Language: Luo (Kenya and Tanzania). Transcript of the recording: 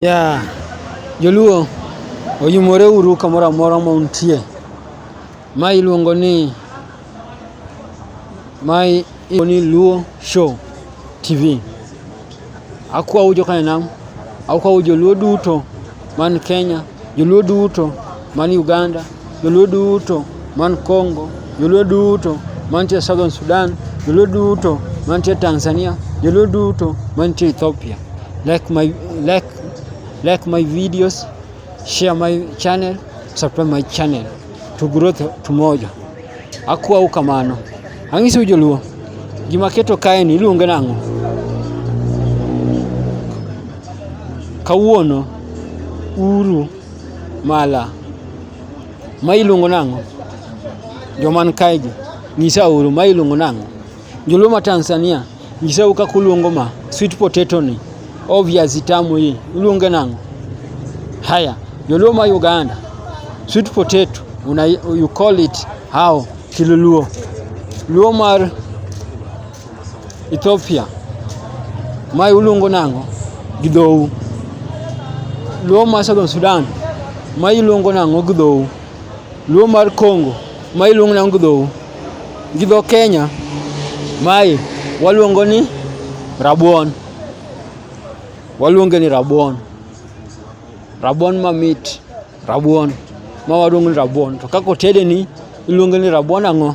Yeah. Joluo oyumore uru kamoro amora ma untie. Ma iluongo ni ma iluongo ni Luo Show TV. Akwau jokanam, akwau joluo duto man Kenya, joluo duto man Uganda. Joluo duto man Congo, joluo duto mantie Southern Sudan, joluo duto mantie Tanzania, joluo duto mantie Ethiopia. Like my, like, like my videos, share my channel, subscribe my channel. To grow to moja. Akuwa ukamano. Ang'isi ujoluo. Gima keto kae ni iluonge nang'o? Kawuono uru Mala. Ma iluongo nang'o? Joman kaegi, nyisa uru, ma iluongo nang'o? Joluo ma Tanzania, nyisa u kaka uluongo ma sweet potato ni, o viazi tamu hii, uluonge nang'o? Haya, Joluo ma Uganda, sweet potato, una, you call it how? Kiluluo. Luo mar Ethiopia ma iluongo nang'o gi dhou? Luo ma Southern Sudan ma iluongo nang'o gi dhou? Luo mar Congo ma iluongo nang'o gi dhou? Gi dho Kenya mae waluongo ni rabuon, waluonge ni rabuon, rabuon mamit, rabuon ma waluongo ni rabuon. To kaka otedeni iluonge ni rabuon ang'o?